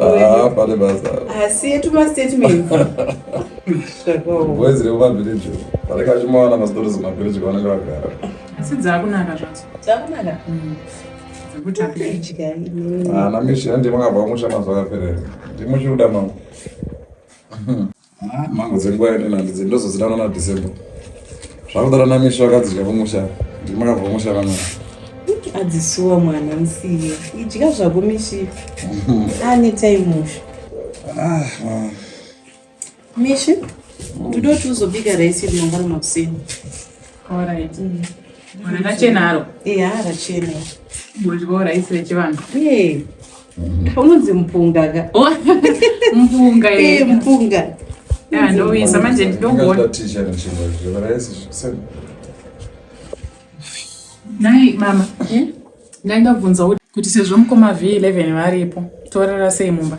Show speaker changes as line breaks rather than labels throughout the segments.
Ah, pane basa asi yetu mastatement
boys rekumavileji vanenge vachimawana mastories kumavileji kwavanenge vagara asi dzakunaka
zvadzo dzakunaka
mm. ana ah, mishira ndimakabva kumusha mazuva akaperera ndimuchiuda mangu Ah, mhango dzenguva yedu nandidzi ndozozidanwa nadecember zvakudara namisha vakadzidya kumusha ndimakabva kumusha vamwana
adzisuwa mwana musiye idya zvako mishipi ane taimusha ah, ah. mishi toda kuti uzobika raisi yedu mangwana makuseni orit mm. rakachena aro e harachena bodyawo raisi rechivanhu unonzi mpunga ka oh, mpunga eh, mpunga ah, ndoisa manje ndidokuona nai mama eh? ndaida kubvunza kuti sezvo mukoma v11 varipo torara sei mumba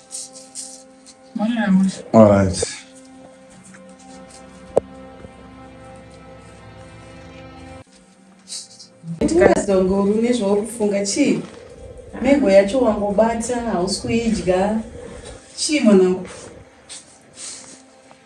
All right.
Tikazonguru nezvaukufunga chii? Mego yacho wangobata hausi kuidya. Chii mwanangu?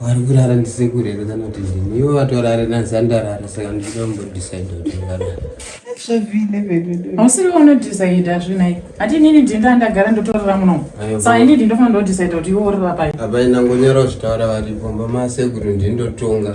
vari kurara ndisekuru here kana kuti ndini ivo vatorare nanzi andarara saka ndinoda kumbodecide kuti ngarara
hausiri unodecida zvinai hati inini ndinda ndagara ndotorara muno sa ini ndindofanira ndodecida kuti iwe urira pai apaina ngonyora
kuzvitaura varipo mbamasekuru ndindotonga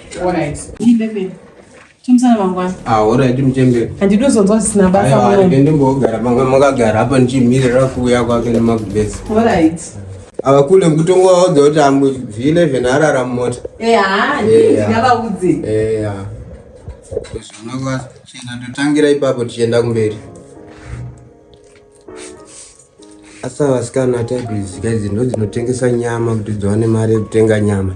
handidozonzwa
zvisina
basaendimbogara manga
makagara apa ndichimirira kuuya kwake nemagubesi
ava kule
mukutongo waudza kuti amuvhile zvenarara mumota zvinokwachena totangira ipapo tichienda kumberi asi avasikana type idzi ka idzi ndodzinotengesa nyama kuti dziwane mari yekutenga nyama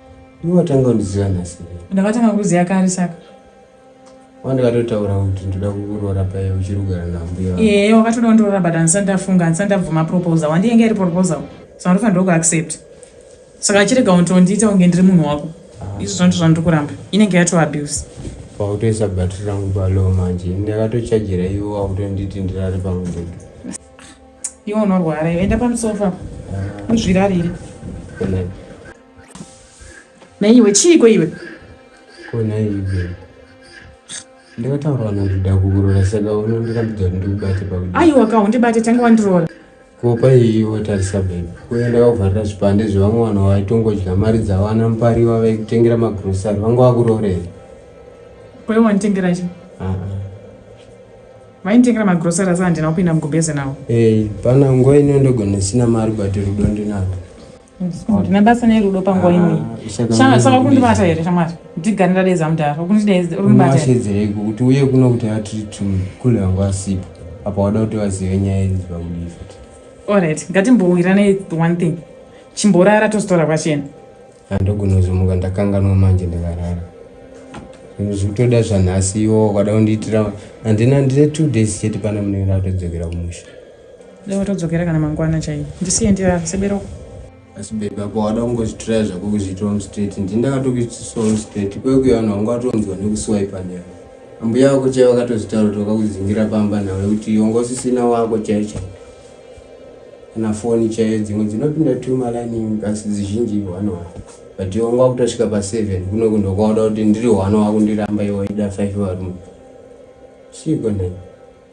Iwe
watanga kundiziva nhasi here? Ndakatanga kukuziva
kare saka. Wandikatotaura
kuti ndoda kukuroora paye uchiri kugara nambuya. Ehe, wakatoda kundiroora but
handisati ndafunga, handisati ndabvuma proposal. Wandiyenge iri proposal. So andofanira kuaccept. Saka chirega untondiita kunge ndiri munhu wako. Ah. Izvo zvandiri zvandiri kuramba. Inenge yato abuse. Pautoisa
battery rangu palow manje. Ndakatochajira iwe wakutonditi ndirare pangu ndege.
Iwe unorwara, enda pamusofa. Ah. Uzvirarire. Good night. naiwe chiiko iwe
konaive ndakataurwa nakuda kukurora saka unondirambidza kuti ndikubate pakuda aiwa ka undibate tange
wandiroora kopa iyi
wotarisa bebe uye ndakakuvharira zvipande zvevamwe vanhu vaitongodya mari dzavana mupariwa vaikutengera magrosari vanga vakuroorera
kwaiva wanditengera chi vainditengera magrosari asi handina kupinda mugubheze nawo ee pana nguva
ino ndogona sina mari but rudo ndinaro ndine
basa nerudo panguva ino ah, saka kundibata here shamwari ndigare ndadedza mudhara kundidaezaundibateedzereiko
kuti uye kuno kuti atiri tumi kule vangu vasipo apa wada kuti vazive nyaya idzi pakudii futi allright
ngatimbowirane one thing chimborara tozitaura kwachena handogona
kuzomuka ndakanganwa manje ndikarara zvikutoda zvanhasi iwo kwada kundiitira handina ndine two days chete pana munenge ndatodzokera kumusha Leo todzokera
kana mangwana chaiye. Ndisiye ndirara sebero. Asi baby
apa wada kungozvitiraya zvako kuzviitira mustraight. Ndini ndakatokuitisa mustraight. Kwekuya vanhu vanga vatonzwa nekuswipe nyaya. Ambuya vako chaiye vakatozvitaura kuti vakakuzingira pamba nhau yekuti wanga usisina wako chaiye chaiye. Kana foni chaiye dzimwe dzinopinda two malaini kasi dzizhinji one one. But iwe wanga wakutosvika pa seven kuno kundo kwauda kuti ndiri one wakundiramba iwe waida five varume. Chiiko nhai?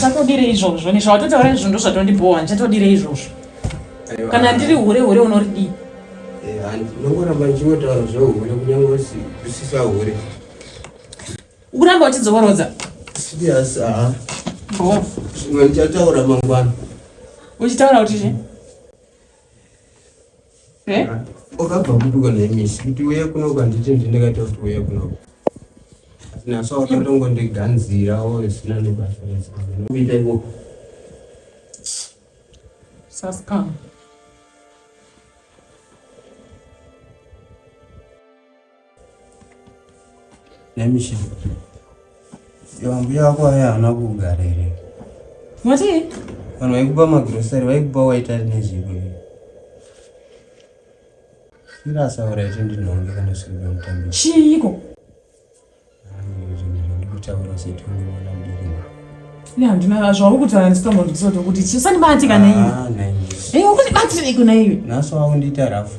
Chatodire izvozvo nezvawatotaura izvo ndozvatondibhowa ndichatodire izvozvo kana ndiri hure hure unoridii
ndongoramba eh, ndichingotaura zvehure kunyange usisa hure
ukuramba uchidzokorodza yes
aha zvimwe ndichataura mangwana uchitaura
kuti chii
Eh? Ukabva kupiko nemisi kuti uye kuno kwanditi ndinekaita kuti uye kuno. Naso wakatongo ndiganzira wo zvisina nebasa rese. Uite wo.
Saska.
Nemishi. Yawambuya wako aya haana kugara here? Mati?
Vanhu
vaikupa magrosari vaikupa waita nezviko here? Sirasaura icho ndinonge kana sikuda mutambi. Chiiko? Ndikutaura setongo mwana mudiki. Ne handina zvauri
kutaura ndisikambo ndisoto kuti chisani bati kana iwe. Ah, nai. Eh, ukuti bati nei kuna iwe? Naso wakundiita rafu.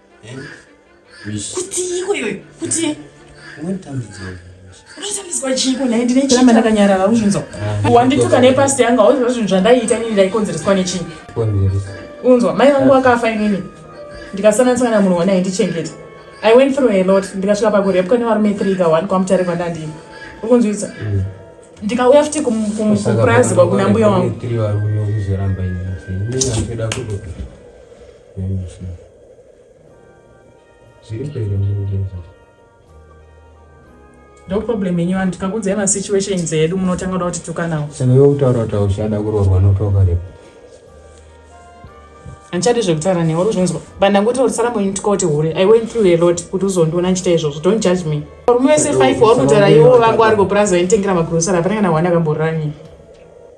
kuti iko iyoyo kuti
unotambidzwa
chiiko nhai ndine chiramba ndakanyarara uzvinzwa ah, wandituka nepasi yangu hauziva zvinhu zvandaiita nini ndaikonzereswa nechii unzwa mai vangu vakafa inini ndikasananisa kana munhu wanai ndichengeta i went through a lot ndikasvika pakurepwa nevarume three ka one kwamutare kwandandii ukunzwisa mm. ndikauya futi kupurazi kwakuna mbuya wangu
Nyamusi zviri pere
murudo ndo problem yenyu vanhu tikakudzai masituations edu munotanga kuda kuti tukanawo saka iwe kutaura kuti
auchada kuroorwa notoka repo
handichadi zvekutaura newe uri kuzvinzwa but ndangoti urisara munyu tikauti hure i went through a lot kuti uzondiona ndichita izvozvo don't judge me varume vese five wauri kutaura iwo vangu ari kupurazi vainditengera magrosari hapana kana wani akamborani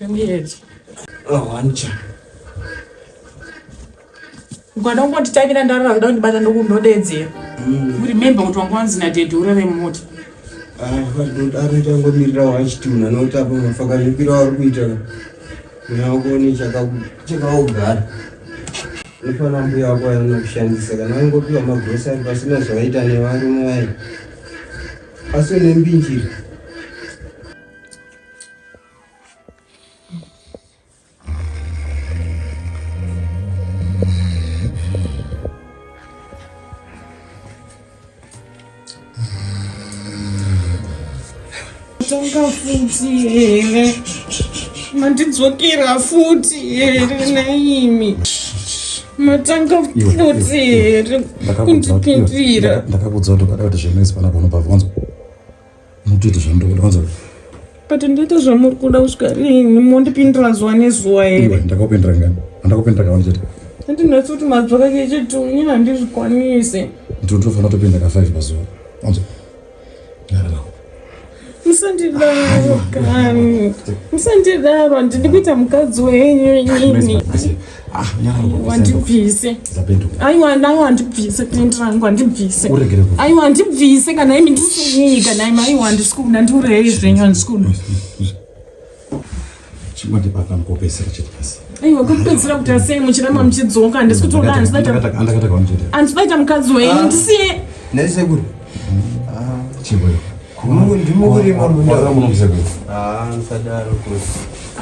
Ndiedze. Oh, Ancha. Ukada kungonditavira ndarara kuda kundibata ndokundodeedzera. Mm. Remember kuti wanga wanzi nadhedhi urere
mumota. Ah, ari changomirira wachiti munhu anoti apa mafakanipira wari kuita nakuone chakaogara nofana mbuya wako anokushandisa kana waingopiwa magrosari pasina zvavaita nevarume vaye asi une mbinjiri
ndakafuti here mandidzokera futi here naimi matanga futi here kundipindira ndakakudza kuti ukada
kuti zvinoizipana kuno pavonzwa Mutoita zvamunoda kwanza. But ndoita
zvamuri kuda kusvika rinhi mondipindira zuva nezuva here? Iwe ndakakupindira ngani?
Andakupindira kawani chete. Ndinoti kuti mazwi
kake chete unye handizvikwanise. Ndinoto tofanira
topinda ka 5 pazuva. Kwanza.
Ngarara. Musandidaro kani. Musandidaro ndiri kuita mukadzi wenyu nyini. wandibvise aiwa nai wandibvise pendi rangu wandibvise aiwa wandibvise kana imi ndisinyii kana imi aiwa handisi kuda ndiureyei zvenyu handisi kuda
aiwa kupedzisira kuti
asei muchiramba muchidzoka handisi kutoda handisaita
mukadzi wenyu
ndisiye naisekuru
ndimurima mundaamusadaro kuti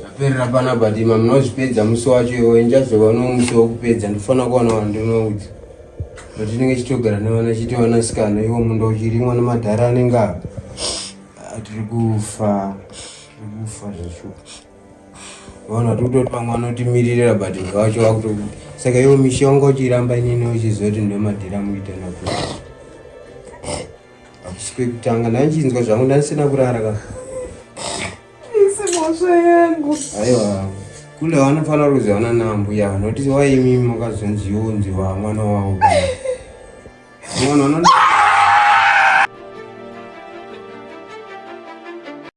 zvaperera panapa dima munozvipedza musi wacho iwe ndichazova nomusi wokupedza ndifana kuwana vanhu ndinoudza patinenge chitogara nevana chitiwana sikana iwo munda uchirimwa nemadhara anenge apa atiri kufa kufa zvacho vaona tikutotwa mwana otimiririra but vacho vakuto saka iwo mishonga uchiramba inini uchizoti ndomadhira muita nakuti Hakusi kwekutanga ndanchinzwa zvangu ndanisina kurara ka. Isimosha
yangu. Aiwa.
Kule wanofanira kuziwana nambuya vanoti waimi makazonzi yonzi wa mwana wavo. Mwana unoda